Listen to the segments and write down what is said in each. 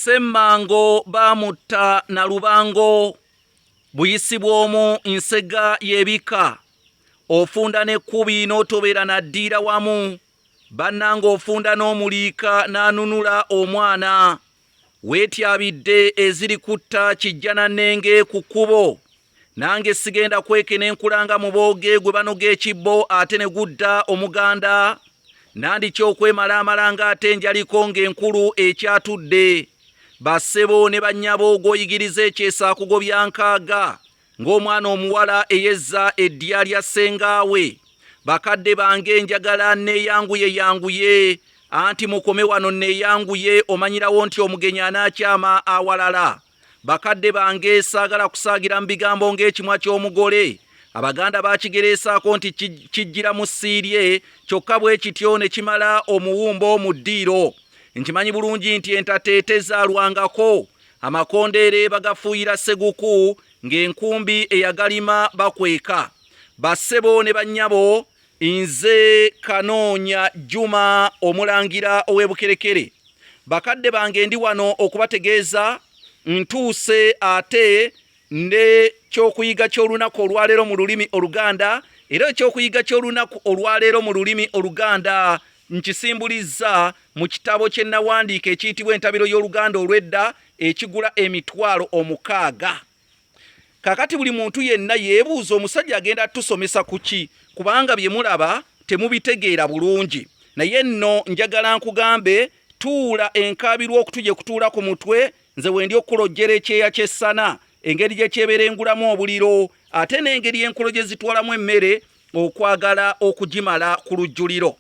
Ssemmango baamutta na lubango buyisi bw'omu nsega y'ebika ofunda n'ekkubi n'otobeera na ddiira wamu bannanga ofunda n'omuliika n'anunula omwana weetyabidde eziri kutta kijjanannenge ku kkubo Nange sigenda kweke ne nkulanga mu booge gwe banoga ekibbo ate ne gudda omuganda nandi kyokwemala amalanga ate njaliko ng'enkulu ekyatudde bassebo ne bannyabo gw'oyigiriza ekyesa akugobya nkaaga ng'omwana omuwala eyezza eddya lya ssengaawe bakadde bange njagala neeyanguye yanguye anti mukome wano neeyanguye omanyirawo nti omugenyi anaakyama awalala Bakadde bange saagala kusaagira mu bigambo ng'ekimwa ky'omugole. Abaganda baakigereesaako nti kijjira mu ssiirye kyokka bwe kityo ne kimala omuwumbo mu ddiiro. Nkimanyi bulungi nti entatta etezaalwangako amakondeere bagafuuyira seguku ng'enkumbi eyagalima bakweka. Bassebo ne bannyabo Nze Kanoonya Juma Omulangira ow'e Bukerekere. Bakadde bange ndi wano okubategeeza ntuuse ate ne kyokuyiga ky'olunaku olwaleero mu lulimi Oluganda era ekyokuyiga ky'olunaku olwaleero mu lulimi Oluganda nkisimbulizza mu kitabo kye nawandiika ekiyitibwa Entabiro y'Oluganda olw'Edda ekigula emitwalo omukaaga. kakati buli muntu yenna yeebuuza omusajja agenda atusomesa ku ki kubanga bye mulaba temubitegeera bulungi naye nno njagala nkugambe tuula enkaabirwa okutuje kutuula ku mutwe nze wendi okukulojjera ekyeya ky'essana engeri gye kyeberengulamu obuliro ate n'engeri enkolo gye zitwalamu emmere okwagala okugimala ku lujjuliro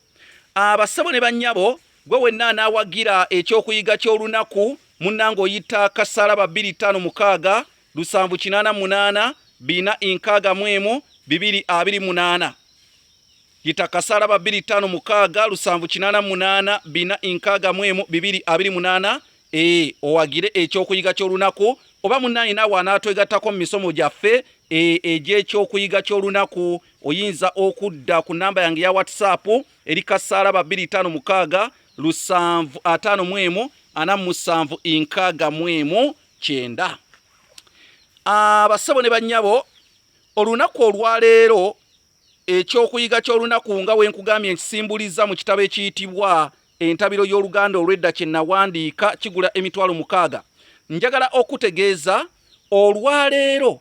abassebo ne bannyabo Gwe wenna anaawagira eky'okuyiga ky'olunaku munnange oyitta kasalaba bbiri ttaano mukaaga lusanvu kinaana munaana bina inkaaga mu emu bibiri abiri munaana yita kasalaba bbiri ttaano mukaaga lusanvu kinaana munaana bina inkaaga mu emu bibiri abiri munaana ee owagire ekyokuyiga ky'olunaku oba munnange naawe anaatwegattako mu misomo gyaffe e, egy'ekyokuyiga ky'olunaku oyinza okudda ku namba yange ya whatsapp eri kasaala babiri itaano mukaaga lusanvu ataano mu emu ana musanvu inkaaga mu emu kyenda abasabo ne bannyabo olunaku olwaleero ekyokuyiga ky'olunaku nga wenkugambye nkisimbuliza mu kitabo ekiyitibwa entabiro y'oluganda olwedda kye nawandiika kigula emitwalo mukaaga njagala okutegeeza olwaleero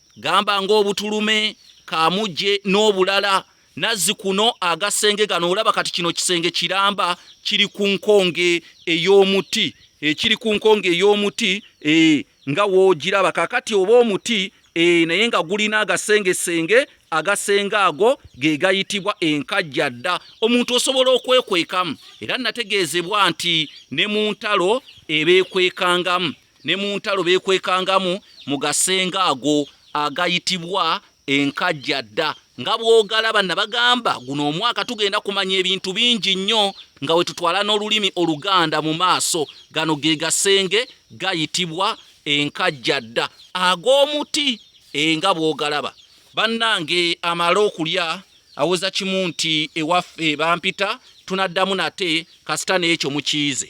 gamba ng'obutulume kamujje n'obulala nazzi kuno agasenge gano olaba kati kino kisenge kiramba kiri ku nkonge ey'omuti ekiri eh, ku nkonge ey'omuti eh, nga woogiraba kakati oba omuti eh, naye nga gulina agasengesenge agasenge ago ge gayitibwa enkajja dda omuntu osobola okwekwekamu era nategeezebwa nti ne mu ntalo ebeekwekangamu ne mu ntalo beekwekangamu mu gasenga ago agayitibwa enkajja dda nga bw'ogalaba nabagamba guno omwaka tugenda kumanya ebintu bingi nnyo nga we tutwala n'olulimi oluganda mu maaso gano ge gasenge gayitibwa enkajja dda ag'omuti enga eh, bw'ogalaba bannange amala okulya awoza kimu nti ewaffe bampita tunaddamu nate kasita n'ekyo mukiize